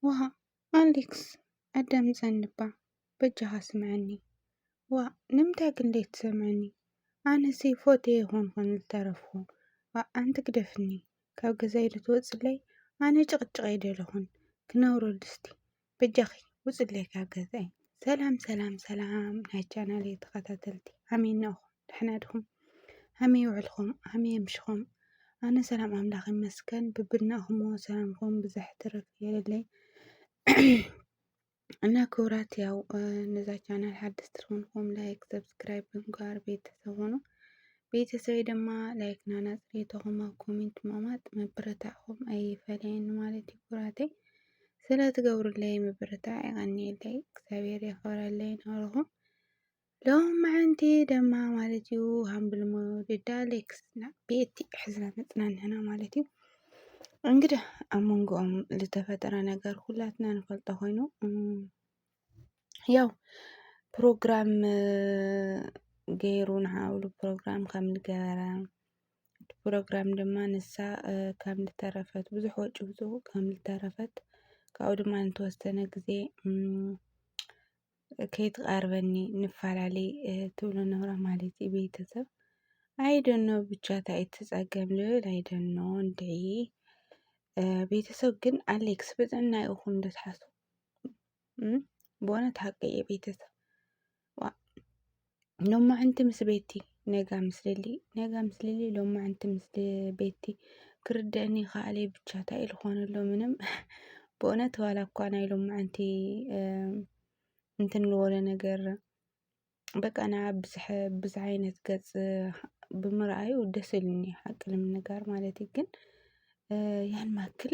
ዋእ ኣሌክስ ኣዳምጸኒ'ባ በጃኻ ስምዓኒ። ዋእ ንምንታይ ግን ዘይትሰምዓኒ ኣነሲ ፎትየ ይኾንኹን ዝተረፍኩ ዋእ ኣንቲ ግደፍኒ ካብ ገዛይ ዶ ትወጽለይ ኣነ ጭቕጭቕ ኣይደለኹን ክነብሮ ድስቲ በጃኺ ውጽለይ ካብ ገዛይ። ሰላም ሰላም ሰላም ናይ ቻናለይ ተኸታተልቲ ኣሜን ንእኹም። ደሕና ድኹም? ሃመይ ውዕልኩም? ሃመይ ኣምሽኹም? ኣነ ሰላም ኣምላኽ ይመስገን ብብናኹሞ ሰላምኹም ብዘሕ ትርፍ የለለይ እና ክብራት ያው ነዛ ቻናል ሓደስቲ ትኾንኩም ላይክ ሰብስክራይብ ብምግባር ቤተሰብ ሆኑ ቤተሰበይ ድማ ላይክ ናና ፅሬቶኹም ኣብ ኮሜንት ምቕማጥ ምብርታዕኹም ኣይፈለየኒ ማለት እዩ ክብራተይ ስለ ትገብሩለይ ምብርታዕ የቐኒየለይ እግዚኣብሔር የኽብረለይ ናበልኹም ሎምዕንቲ ደማ ማለት እዩ ሃምብልሞ ድዳ ሌክስና ቤቲ ሕዝና መፅናንሕና ማለት እዩ እንግዲህ ኣብ መንጎኦም ዝተፈጠረ ነገር ሁላትና ንፈልጦ ኮይኑ ያው ፕሮግራም ገይሩ ንዓብሉ ፕሮግራም ከም ዝገበረ ፕሮግራም ድማ ንሳ ከም ዝተረፈት ብዙሕ ወጪ ብዙ ከም ዝተረፈት ካብኡ ድማ ንተወሰነ ግዜ ከይትቐርበኒ ንፈላለይ ትብሎ ነራ ማለት እዩ ቤተሰብ ኣይደኖ ብቻ ታይ ትፀገም ልብል ኣይደኖ እንድዒ ቤተሰብ ግን ኣሌክስ ብጥዕና ይኹን ደትሓሱ በእውነት ሓቂ እዩ ቤተሰብ ሎማዕንቲ ምስ ቤቲ ነጋ ምስ ሊሊ ነጋ ምስ ሊሊ ሎማዕንቲ ምስ ቤቲ ክርደኣኒ ይክኣለ እዩ ብቻ ታይ ኢሉ ክኮን ኣለዎ ምንም ብእውነት ዋላ እኳ ናይ ሎማዕንቲ እንትን ልወለ ነገር በቃ ንዓ ብዝሕ ብዝሕ ዓይነት ገፅ ብምርኣዩ ደስ ኢሉኒ ሓቂ ንምንጋር ማለት እዩ ግን ያን ማክል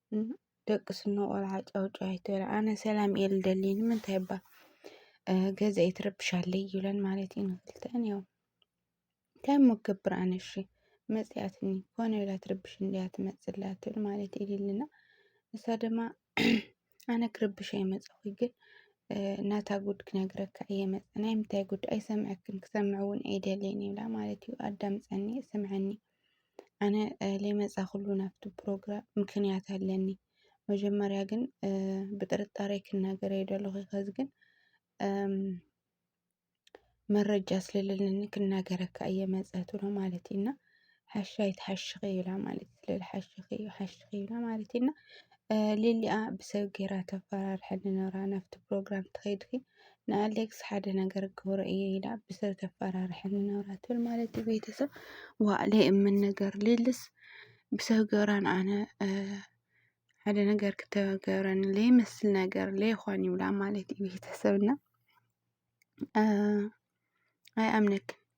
ደቂ ስኖ ቆልዓ ጫውጫው ኣይትበል ኣነ ሰላም እየ ልደሊ ንምንታይ እባ ገዛ የትረብሻለይ ይብለን ማለት እዩ ንክልተን ያው እንታይ እሞ ክገብር ኣነ እሺ መፅያትኒ ኮነ ኢላ ትርብሽ እንድያ ትመፅላ ትብል ማለት እዩ ሊልና ንሳ ድማ ኣነ ክርብሽ ኣይመፀኹ ግን ናታ ጉድ ክነግረካ እየ መፅ ናይ ምንታይ ጉድ ኣይሰምዐክን ክሰምዕ እውን ኣይደልየን ይብላ ማለት እዩ ኣዳምፀኒ ስምዐኒ ኣነ ለይመፃኹሉ ናብቲ ፕሮግራም ምክንያት ኣለኒ መጀመርያ ግን ብጥርጣሬ ክናገር እየ ደለኹ ኸዚ ግን መረጃ ስለለለኒ ክናገረካ እየ መፃትሉ ማለት እዩ እና ሓሺ ኣይትሓሽኺ ኢላ ማለት እዩ ስለዚ ሓሽኺ ሓሽኺ ኢላ ማለት እዩ እና ሊሊኣ ብሰብ ገይራ ተፈራርሐኒ ነይራ ናብቲ ፕሮግራም ተኸይድኪ ንኣሌክስ ሓደ ነገር ክገብሮ እየ ኢላ ብሰብ ተፈራርሐኒ ነብራ ትብል ማለት እዩ። ቤተሰብ ዋእለ እምን ነገር ሌልስ ብሰብ ገብራን ኣነ ሓደ ነገር ክተገብረኒ ለይመስል ነገር ለይኾን ይብላ ማለት እዩ ቤተሰብና ኣይ ኣምነክን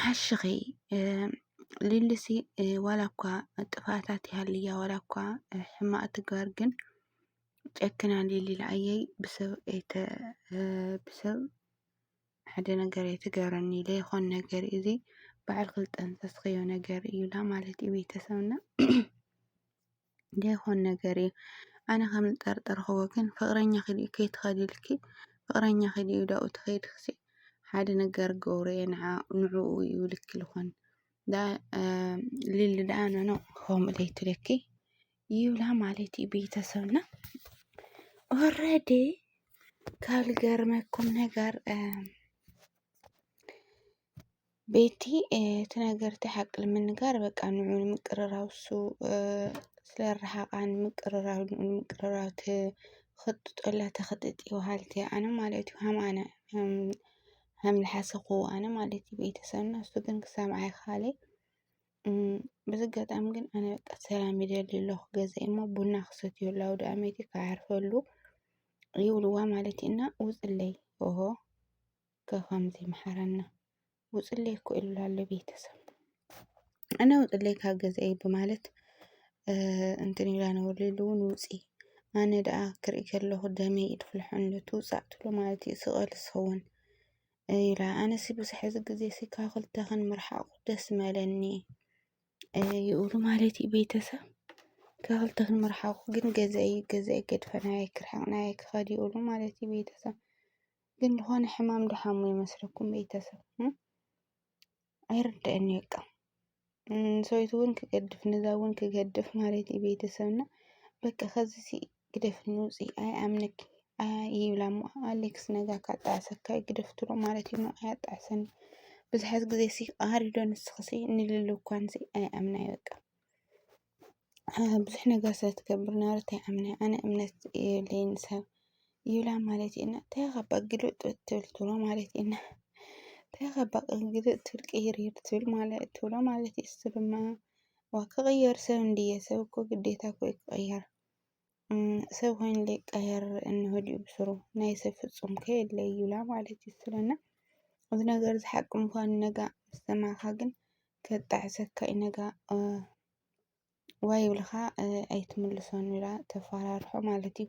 ሓሽኺ ሊሊሲ ዋላ እኳ ጥፍኣታት ይሃልያ ዋላ እኳ ሕማቅ ትግበር ግን ጨክና ሊሊ ንዓየይ ብሰብ ሓደ ነገር ኣይትገረኒ ዘይኾን ነገር እዩ እዚ ባዕልኺ ዝጠንሰስኽዮ ነገር እዩ ኢላ ማለት እዩ ቤተሰብና። ደይኮን ነገር እዩ ኣነ ከም ዝጠርጠርክዎ ግን ፍቅረኛኪ ድዩ ከይትከዲ ኢልኪ ፍቅረኛኪ ድዩ ዳኡ ተከይድክሲ ሓደ ነገር ክገብሮ እየ ንዕኡ እዩ ኢልኪ ዝኮን ሊሊ ዳኣ ኖኖ ከምኡ ዘይትብለኪ ይብላ ማለት እዩ ቤተሰብና ኦረዲ ካብ ዝገርመኩም ነገር ቤቲ እቲ ነገር እቲ ሓቂ ንምንጋር በቃ ንዑ ንምቅርራብ እሱ ስለረሓቓ ንምቅርራብ ንዑ ንምቅርራብ ተኽጥጦላ ተኽጥጢ በሃልቲ እያ። ኣነ ማለት እዩ ሃም ኣነ ሃም ልሓሰኹዎ ኣነ ማለት እዩ ቤተሰብና እሱ ግን ክሳብ ኣይኸኣለ በዚ ኣጋጣሚ ግን ኣነ በቃ ሰላም ይደሊ ኣለኹ። ገዛይ እሞ ቡና ክሰትየሉ ኣውደኣመት እዩ ክዓርፈሉ ይብልዋ ማለት እዩ እና ውፅለይ ኦሆ ከከምዚ ይምሓረና ውፅለይ እኮ ኢሉ ኣሎ ቤተሰብ እና ውፅለይ ካብ ገዛይ ብማለት እንትን ኢላ ነበር ኢሉ እውን ውፂ ኣነ ደኣ ክርኢ ከለኹ ደመይ ኢድ ፍልሖ ኣሎ ትውፃእ ትብሎ ማለት እዩ ስቐል ዝኸውን ኢላ ኣነሲ ብዙሕ እዚ ግዜ ሲ ካብ ክልተ ክንምርሓቑ ደስ መለኒ ይብሉ ማለት እዩ ቤተሰብ ካብ ክልተ ክንምርሓቑ ግን ገዛይ ገዛይ ገድፈናየ ክርሕቕናየ ክኸድ ይብሉ ማለት እዩ ቤተሰብ ግን ዝኾነ ሕማም ዶ ሓሙ ይመስለኩም ቤተሰብ ኣይርድኣንን እዩ በቃ ንሰበይቱ እውን ክገድፍ ነዛ እውን ክገድፍ ማለት እዩ ቤተሰብና በቃ ከዚሲ ግደፍኒ ውፂ ኣይኣምነኪ ይብላ እሞ ኣሌክስ ነዛ ካጣዕሰካ ግደፍ ትብሎ ማለት እዩ እሞ ኣያጣዕሰኒ ብዙሓት ግዜ ሲ ቃሃር ዶ ንስኽሲ ንልሉ እኳን ሲ ኣይኣምና እዩ በቃ ብዙሕ ነገር ስለ ትገብር ነበረት ኣይኣምነ ኣነ እምነት የብለይን ሰብ ይብላ ማለት እየን እንታይ ኢኻ እባ ግልብጥ ትብል ትብሎ ማለት እየን እንታይ ኢኻ እባ ግልብጥ ትብል ቅይርይር ትብል ማለት ትብሎ ማለት እዩ እሱ ድማ ክቕየር ሰብ እንድየ ሰብ እኮ ግዴታ እኮ እዩ ክቕየር። ሰብ ኮይኑ ሊቀየር እንሆዲኡ ብስሩ ናይ ሰብ ፍጹም ከ የለ እዩላ ማለት እዩ ስለና እዚ ነገር እዚ ሓቂ ምዃኑ ነጋ ምስ ሰማዕካ ግን ከጣዕሰካ እዩ ነጋ ዋይ ይብልኻ ኣይትምልሶን ኢላ ተፋራርሖ ማለት እዩ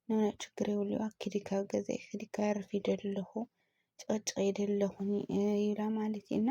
ኖኖ ችግር የብሉዋ ኪዲ ካብ ገዛይ ኪዲ ከዕርፍ ይደሊ ኣለኹ ጭቕጭቕ ይደሊ ኣለኹ ይብላ ማለት እዩ እና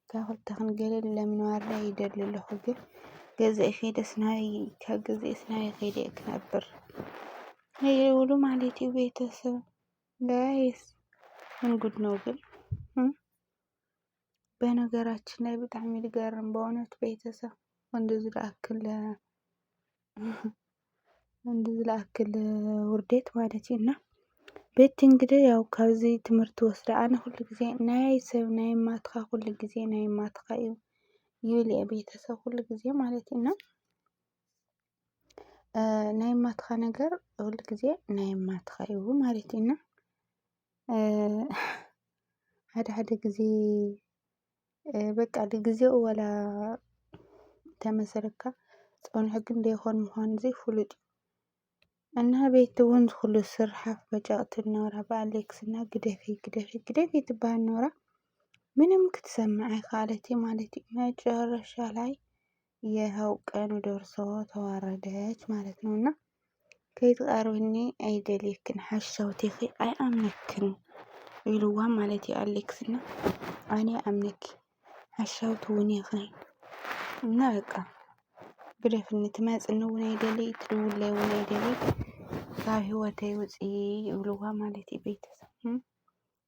እታ ክልተ ክንገለ ለምንዋርዳ ይደሊ ኣለኹ ግን ገዛኢ ከይደስ ናበይ ካብ ገዛኤስ ናበይ ከይደ እየ ክነብር ይብሉ ማለት እዩ ቤተሰብ ጋይስ ምን ጉድ ነው ግን በነገራችን ላይ በጣም ይገርም በእውነት ቤተሰብ እንደዚህ ዳክል እንዲ ዝለኣክል ውርዴት ማለት እዩ እና ቤቲ እንግዲህ ያው ካብዚ ትምህርቲ ወስደ ኣነ ኩሉ ግዜ ናይ ሰብ ናይ ማትካ ኩሉ ግዜ ናይ ማትካ እዩ ይብል እየ ቤተሰብ ኩሉ ግዜ ማለት እዩ እና ናይ ማትካ ነገር ኩሉ ግዜ ናይ ማትካ እዩ ማለት እዩ እና ሓደ ሓደ ግዜ በቃ ንግዜኡ ዋላ ተመስርካ ጸንሑ ግን ደይኮን ምዃኑ ዘይ ፍሉጥ እዩ እና ቤቲ እውን ዝኩሉ ስርሓፍ በጨቕቲ ነውራ ብኣሌክስ እና ግደፊ ግደፊ ግደፊ ትበሃል ነውራ ምንም ክትሰምዕ ኣይከኣለት ማለት እዩ መጨረሻ ላይ ይሀው ቀኑ ደርሶ ተዋረደች ማለት ነው እና ከይትቐርብኒ ኣይደልየክን ሓሻውቴኺ ኣይኣምነክን ኢልዋ ማለት እዩ ኣሌክስ እና ኣነ ኣምነኪ ሓሻውቲ እውን ኢኺ እና በቃ ግደፍኒ ትመፅኒ እውን ኣይደልይ ትድውለይ እውን ኣይደልይ ካብ ህይወተይ ውፂ ይብልዋ ማለት እዩ ቤተሰብ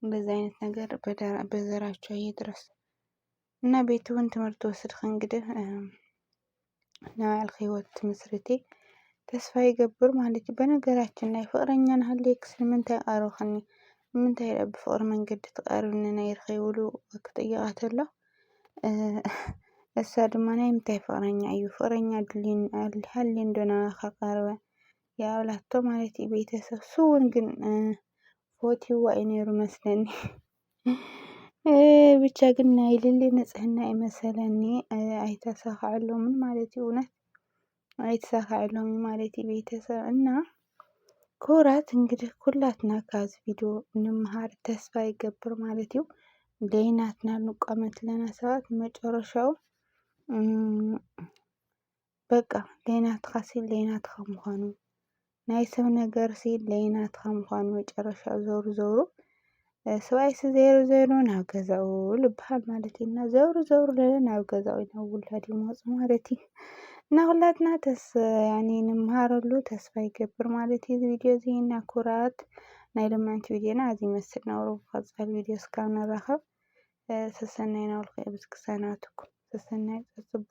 እንደዚህ አይነት ነገር በዘራቸው ይድረስ እና ቤት እውን ትምህርቲ ወስድኺ እንግዲህ ንባዕልኺ ህይወት ትምስርቲ ተስፋ ይገብር ማለት እዩ። በነገራችን ላይ ፍቅረኛ ንሃልየክስ ንምንታይ ቀረብክኒ ንምንታይ ዳኣ ብፍቅሪ መንገዲ ትቀርብኒ ነይርኺ ብሉ ክጥይቃ ተሎ እሳ ድማ ናይ ምንታይ ፍቅረኛ እዩ ፍቅረኛ ድልዩኒ ሃልዩ እንዶ ናባኻ ቀረበ ይኣብላቶ ማለት እዩ። ቤተሰብ ስውን ግን ፈትይዋ እዩ ነይሩ መስለኒ። ብቻ ግን ናይ ሊሊ ንፅህና እዩ መሰለኒ ኣይተሳከዐሎምን ማለት እዩ እውነት ኣይተሳከዐሎምን ማለት እዩ ቤተሰብ እና ክቡራት እንግዲህ ኩላትና ካብዚ ቪድዮ ንምሃር ተስፋ ይገብር ማለት እዩ ደይናትና ንቋመት ለና ሰባት መጨረሻው በቃ ለይናትኻሲ ለይናትኻ ምዃኑ ናይ ሰብ ነገርሲ ለይናትኻ ምዃኑ መጨረሻ ዞሩ ዞሩ ሰብኣይሲ ዘይሩ ዘይሩ ናብ ገዛኡ ልበሃል ማለት እዩ እና ዘውሩ ዘውሩ ለለ ናብ ገዛኡ ናብ ውላድ ይመፁ ማለት እዩ እና ሁላትና ተስ ያኔ ንምሃረሉ ተስፋ ይገብር ማለት እዩ ቪድዮ እዚ እና ኩራት ናይ ልምዕንቲ ቪድዮና እዚ ይመስል ነውሩ ብቐፃል ቪድዮ እስካብ ንራኸብ ሰሰናይ ናውልከ ብዝክሳናትኩም ሰሰናይ ፅፅቦ